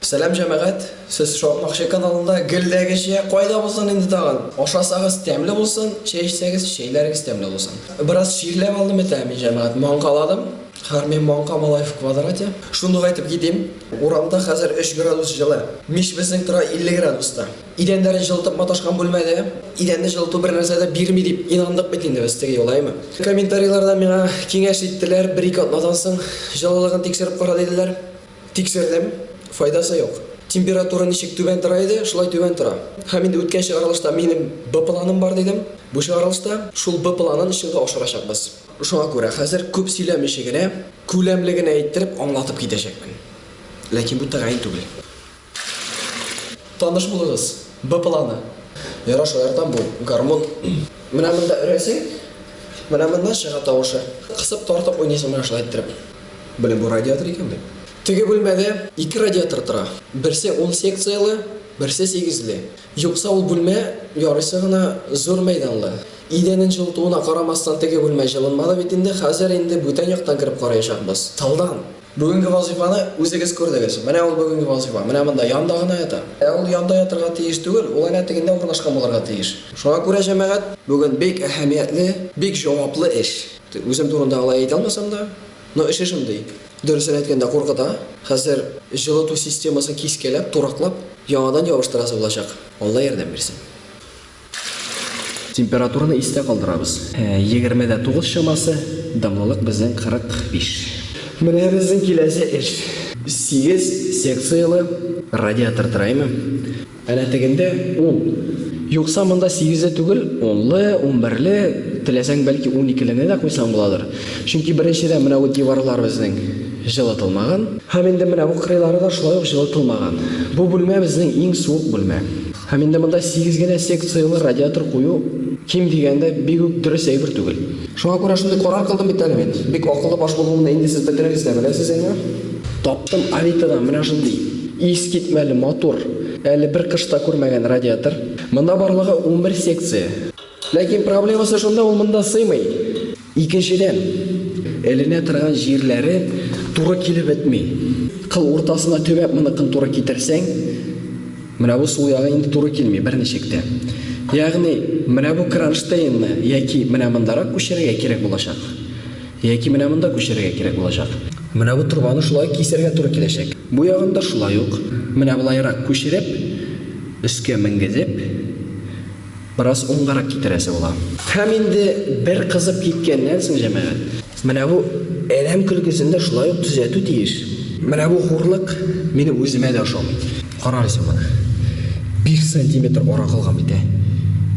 Сәлам җәмәгать, сез шакмакчы каналында гелдәге чәй кайда булсын инде тагын? Ашасагыз тәмле булсын, чәй эчсәгез чәйләрегез тәмле булсын. Бераз чирләп алдым бит ә мин җәмәгать, маңкаладым. Хәрми маңка малай в квадрате. Шундук әйтеп китим, урамда хәзер өч градус җылы. Мич безнең тора 50 градуста. Идәннәрен җылытып маташкан бүлмәдә идәнне җылыту бер нәрсә дә бирми дип инандык бит инде без, теге юлаймы. Комментарийларда миңа киңәш иттеләр, бер-ике атнадан соң җылылыгын тикшереп кара диделәр. Тикшердем, файдасы юк. Температура ничек түбән тора иде, шулай түбән тора. Һәм инде үткән чыгарылышта минем Б планым бар дидем. Бу чыгарылышта шул Б планын чынга ашырачакбыз. Шуңа күрә хәзер күп сөйләмичи генә, күләмле генә иттереп аңлатып китәчәкмен. Ләкин бу тәгаен түгел. Таныш булыгыз, Б планы. Яра шаяртам бу гармун. Менә монда өрәсең, менә моннан чыга тавышы. Кысып тартып уйныйсың менә шулай иттереп. Беләм бу радиатор икән бит. Теге бүлмәдә ике радиатор тора. Берсе ун секцияле, берсе сигезле. Юкса ул бүлмә ярыйсы гына зур мәйданлы. Идәнен җылытуына карамастан теге бүлмә җылынмады бит инде, хәзер инде бүтән яктан кереп караячакбыз, тылдан. Бүгенге вазыйфаны үзегез күрдегез. Менә ул бүгенге вазыйфа. Менә монда, янда гына ята. Ә ул янда ятырга тиеш түгел, ул әнә тегендә урнашкан булырга тиеш. Шуңа күрә, җәмәгать, бүген бик әһәмиятле, бик җаваплы эш. Үзем турында алай әйтә алмасам да, но эше шундый. Дөресен әйткәндә, куркыта. Хәзер җылыту системасын кискәләп, тураклап, яңадан ябыштырасы булачак. Алла ярдәм бирсен. Температураны истә калдырабыз. Егерме дә тугыз чамасы, дымлылык безнең 45. Менә безнең киләсе эш. Сигез секцияле радиатор терәйме? Әнә тегендә ул. Юкса монда сигезле түгел, унлы, унберле, теләсәң бәлки уникелене дә куйсаң буладыр. Чөнки беренчедән менә бу диварлар безнең җылытылмаган. Һәм инде менә бу кырыйлары да шулай ук җылытылмаган. Бу бүлмә безнең иң суык бүлмә. Һәм инде монда сигез генә секцияле радиатор кую, ким дигәндә, бик үк дөрес әйбер түгел. Шуңа күрә шундый карар кылдым бит әле мин. Бик акыллы баш булуымны инде сез бөтенегез дә беләсез, әйеме? Таптым Авитадан менә шундый искитмәле матур, әле бер кыш та күрмәгән радиатор. Монда барлыгы унбер секция. Ләкин проблемасы шунда, ул монда сыймый. Икенчедән, эленә торган җирләре туры килеп бетми. Кыл уртасына төбәп моныкын туры китерсәң, менә бу сул ягы инде туры килми берничек тә. Ягъни, менә бу кронштейнны яки менә мондарак күчерергә кирәк булачак, яки менә монда күчерергә кирәк булачак. Менә бу торбаны шулай ук кисәргә туры киләчәк. Бу ягын да шулай ук менә болайрак күчереп, өскә менгезеп, Бераз уңгарак китерәсе була. Һәм инде бер кызып киткәннән соң, җәмәгать. Менә бу әрәм көлкесен дә шулай ук төзәтү тиеш. Менә бу хурлык минем үземә дә ошамый. Карагыз сез моны. Биш сантиметр ара калган бит, ә!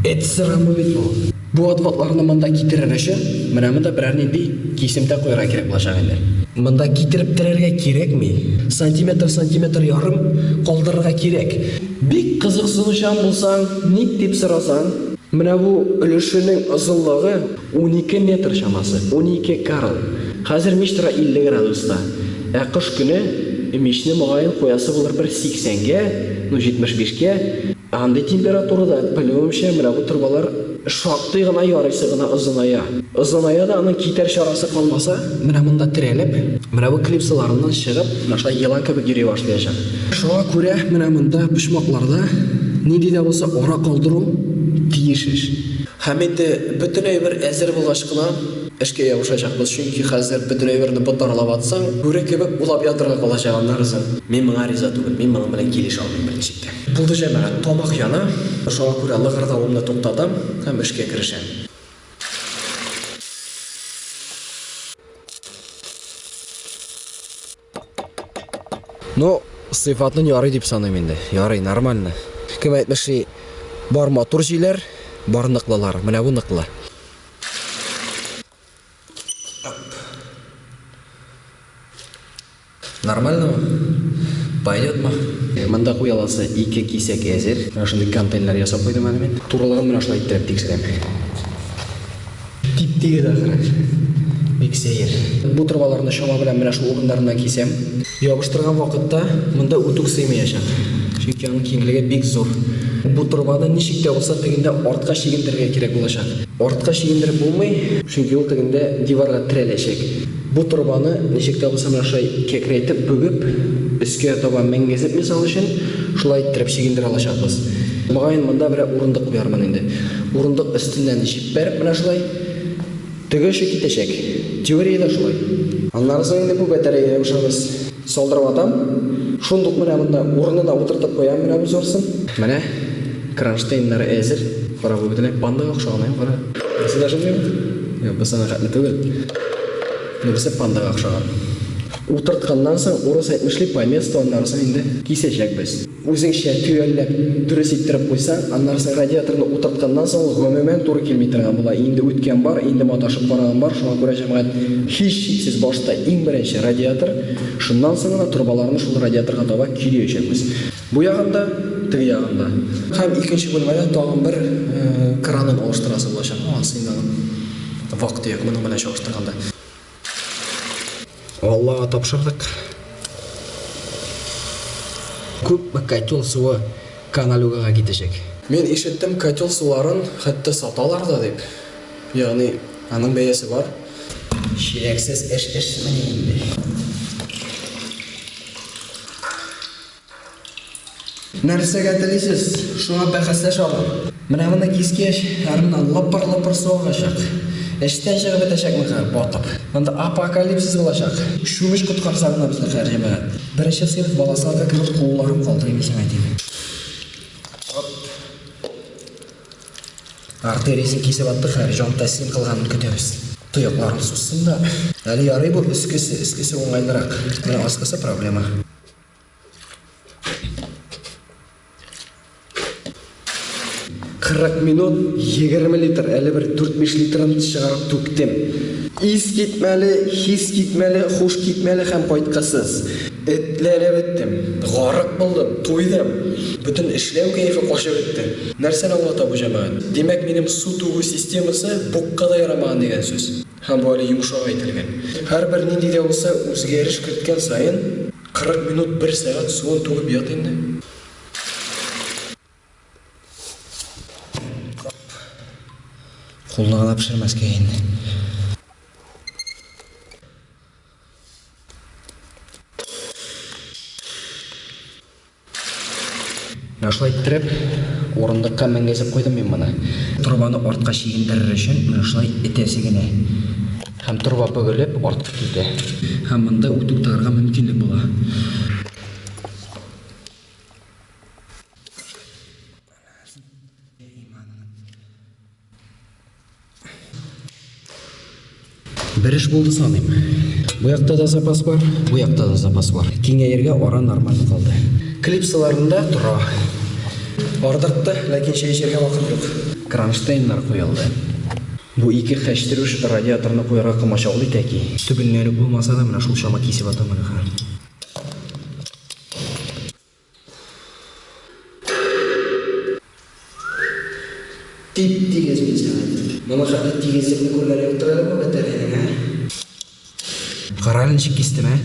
Эт сырамы бит бу! Бу отпадларны монда китерер өчен, менә монда берәр нинди кисемтә куярга кирәк булачак инде. Монда китереп терәргә кирәкми. Сантиметр, сантиметр ярым калдырырга кирәк. Бик кызыксынучан булсаң, ник дип сорасаң, менә бу өлешенең озынлыгы унике метр чамасы, унике карл. Хәзер мич тора 50 градуста, ә кыш көне мичне, мөгаен, куясы булыр бер 80 гә, ну 75 гә. Андый температурада, белүемчә, менә бу торбалар. Шактый гына ярыйсы гына озыная. Озыная да аның китәр чарасы калмаса, менә монда терәлеп, менә бу клипсаларыннан чыгып, менә шулай елан кебек йөри башлаячак. Шуңа күрә менә монда почмакларда нинди дә булса ара калдыру тиеш ич. Һәм инде бөтенләй бер әзер булгач кына эшкә ябышачакбыз, чөнки хәзер бөтенләй берне ботарлап атсаң, бүре кебек улап ятырга калачак аннарысын. Мин моңа риза түгел, мин моның белән килешә алмыйм берничек тә. Булды, җәмәгать, тамак яна, шуңа күрә лыгырдавымны туктатам һәм эшкә керешәм. Ну, сыйфатын ярый дип саныйм инде. Ярый, нормально. Кем әйтмешли, бар матур җиләр, бар ныклылар. Менә бу ныклы. Нормально ма? Пойдет ма? Монда куй аласы ике кисәк әзер. Менә шундый контейнер ясап куйдым әле мин. Турылыгын менә шулай иттереп тикшерәм. Тип-тигез ахры. Бик сәер. Бу торбаларны чама белән менә шул урыннарыннан кисәм. Ябыштырган вакытта монда үтүк сыймыячак, чөнки аның киңлеге бик зур. Бу торбаны ничек тә булса тегендә артка чигендерергә кирәк булачак. Артка чигендереп булмый, чөнки ул тегендә диварга терәләчәк. Бу торбаны ничек тә булса менә шулай кәкрәйтеп бүгеп, өскә таба менгезеп мисал өчен, шулай иттереп чигендерә алачакбыз. Мөгаен монда берәр урындык куярмын инде. Урындык өстеннән җиппәреп менә шулай. Теге эше китәчәк. Теория дә шулай. Аннары соң инде күп әтәрәгә ябышабыз. Салдырып атам. Шундук менә монда урыны да утыртып куям, менә бу зурсын. Менә кронштейннары әзер. Кара, бу бөтенләй пандага охшаган, ә, кара. Нәрсә дә ошамыймы? Юк, бу сиңа хәтле түгел. Монысы пандага охшаган. Утыртканнан соң урыс әйтмешли, по месту, аннары соң инде кисәчәкбез. Үзеңчә төгәлләп, дөрес иттереп куйсаң, аннары син радиаторны утыртканнан соң ул гомумән туры килми торган була. Инде үткән бар, инде маташып караган бар, шуңа күрә җәмәгать һичшиксез башта иң беренче радиатор, шуннан соң гына торбаларны шул радиаторга таба көйрәячәкбез. Бу ягын да, теге ягын да. Һәм икенче бүлмәдә тагын бер кранын алыштырасы булачак, аңа сыймаган, вак-төяк, моның белән чагыштырганда. Аллага тапшырдык. Күпме котел суы каналюгага китәчәк? Мин ишеттем, котел суларын хәтта саталар да дип. Ягъни, аның бәясе бар. Чиләксез эш эшмени инде. Нәрсәгә телисез, шуңа бәхәсләшә алам. Менә моны кискәч, Армина лыпыр-лыпыр су агачак. Эчтән чыгып бетәчәк мөһер, батып. Монда апокалипсис булачак. Чүмеч коткарса гына безне һәр җәмәгать. Беренче сыйныф баласыларга кебек кулларым калтырый үзем әйтим. Оп. Артериясен кисеп аттык хәер, җан тәслим кылганын көтәбез. Тоякларым сузсын да. Әле ярый бу өскесе, өскесе уңайлырак. Менә аскысы проблема. Кырык минут, егерме литр, әле бер дүрт-биш литрын чыгарып түктем. Ис китмәле, хис китмәле, хуш китмәле һәм кайткысыз. Этләнеп беттем. Гарык булдым, туйдым. Бөтен эшләү кәефе качып бетте. Нәрсәне аңлата бу җәмәгать? Димәк, минем су түгү системасы букка да ярамаган дигән сүз. Һәм бу әле йомшак әйтелгән. Һәрбер нинди дә булса үзгәреш керткән саен, 40 минут, бер сәгать суын түгеп ят инде. Кулны гына пешермәскә инде. Менә шулай иттереп, урындыкка менгезеп куйдым мин моны. Торбаны артка чигендерер өчен менә шулай этәсе генә. Һәм торба бөгелеп, артка китә. Һәм монда үт туктарырга мөмкинлек була. Бер эш булды саныйм. Бу якта да запас бар, бу якта да запас бар. Киңәергә ара нормаль калды. Клипсаларында тора. Ардыкты, ләкин чәй эчәргә вакыт юк. Кронштейннар куелды. Бу ике хәчтерүш радиаторны куярга комачаулый тәки. Түбеннән үк булмаса да, менә шул чама кисеп атам әле хәзер. Тип-тигез бизәк. Моның хәтле тигезлекне күргән юктыр әле бу бәтәрәйнең, ә? Кара әле ничек кистем, ә?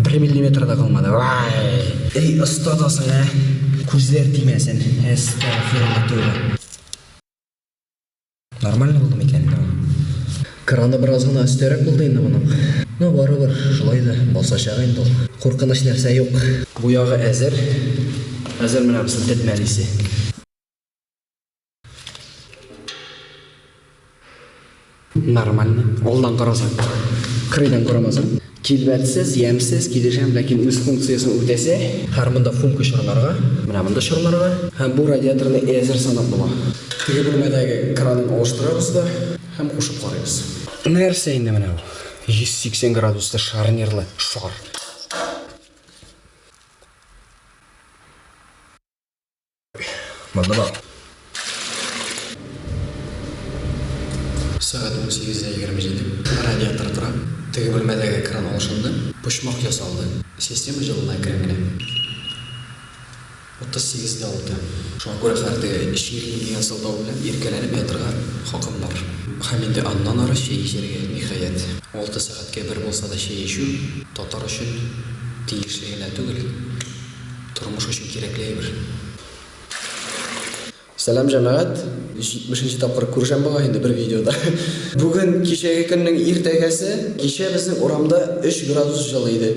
Бер миллиметр да калмады. Вай! Әй, оста да соң, ә? Күзләр тимәсен. Әстәгъфирулла, тәүбә. Нормально булды микән? Краны бераз гына өстәрәк булды инде моның. Ну, барыбер, шулай да басачак инде ул. Куркыныч нәрсә юк. Бу ягы әзер. Хәзер менә без тетмәлисе. Нормально. Алдан карасаң, кырыйдан карамасаң. Килбәтсез, ямьсез, килешәм, ләкин үз функциясен үтәсе. Хәер, монда функы чорларга. Менә монда чорларга. Һәм бу радиаторны әзер санап була. Теге бүлмәдәге кранын алыштырабыз да һәм кушып карыйбыз. Нәрсә инде менә бу? 180 градуслы шарнирлы шар. Монда бар. Сәгать 18:27. Радиатор тора. Теге бүлмәдәге кран алышынды. Почмак ясалды. Система җылына әкрен генә. 38:06. Шуңа күрә хәзер теге чирли дигән сылтау белән иркәләнеп ятырга хакым бар. Һәм инде аннан ары чәй эчәргә, ниһаять. Алты сәгатькә бер булса да чәй эчү татар өчен тиешле генә түгел. Тормыш өчен кирәкле әйбер. Сәлам җәмәгать! 170 нче тапкыр күрешәм бугай инде бер видеода. Бүген кичәге көннең иртәгәсе. Кичә безнең урамда 3 градус җылы иде.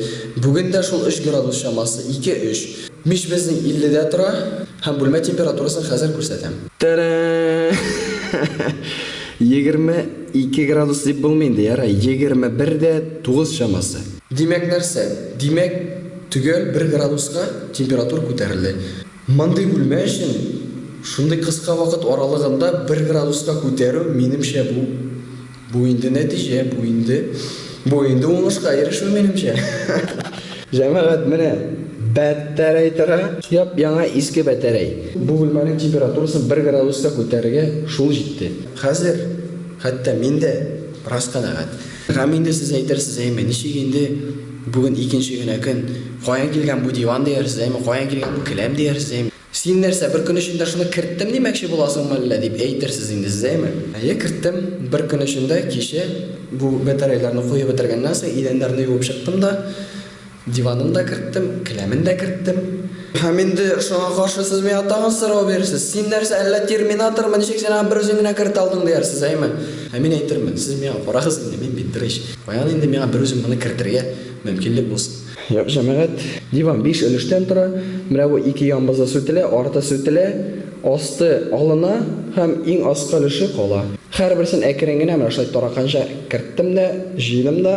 Бүген дә шул 3 градус чамасы, ике-өч. Мич безнең 50 дә тора. Һәм бүлмә температурасын хәзер күрсәтәм. Тәрәәәәәә! Егерме ике градус дип булмый инде, ярай, егерме бер дә тугыз чамасы. Димәк нәрсә? Димәк, төгәл бер градуска температура күтәрелде. Мондый бүлмә өчен шундый кыска вакыт аралыгында бер градуска күтәрү, минемчә, бу, бу инде нәтиҗә, бу инде, бу инде уңышка ирешү, минемчә. Җәмәгать, менә бәтәрәй тора, яп-яңа иске бәтәрәй. Бу бүлмәнең температурасын бер градуска күтәрергә шул җитте. Хәзер хәтта мин дә бераз канәгать. Гам инде сез әйтерсез әйме, ничек инде бүген икенче генә көн, каян килгән бу диван диярсез әйме, каян килгән бу келәм диярсез әйме. Син нәрсә, бер көн эчендә шуны керттем димәкче буласыңмы әллә, дип әйтерсез инде сез әйме. Әйе, керттем. Бер көн эчендә кичә бу бәтәрәйләрне куеп бетергәннән соң идәннәрне юып чыктым да, Диванын да керттем, келәмен дә керттем. Һәм инде шуңа каршы сез миңа тагын сорау бирерсез. Син нәрсә, әллә терминатормы, ничек син аны берүзең генә кертә алдың диярсез, әйме? Ә мин әйтермен, сез миңа карагыз инде, мин бит беренче. Каян инде миңа берүзем моны кертергә мөмкинлек булсын? Юк, җәмәгать, диван биш өлештән тора, берәве ике янбызда сүтелә, арты сүтелә, асты алына һәм иң аскы өлеше кала. Һәрберсен әкрен генә менә шулай тараканча керттем дә, җыйдым да.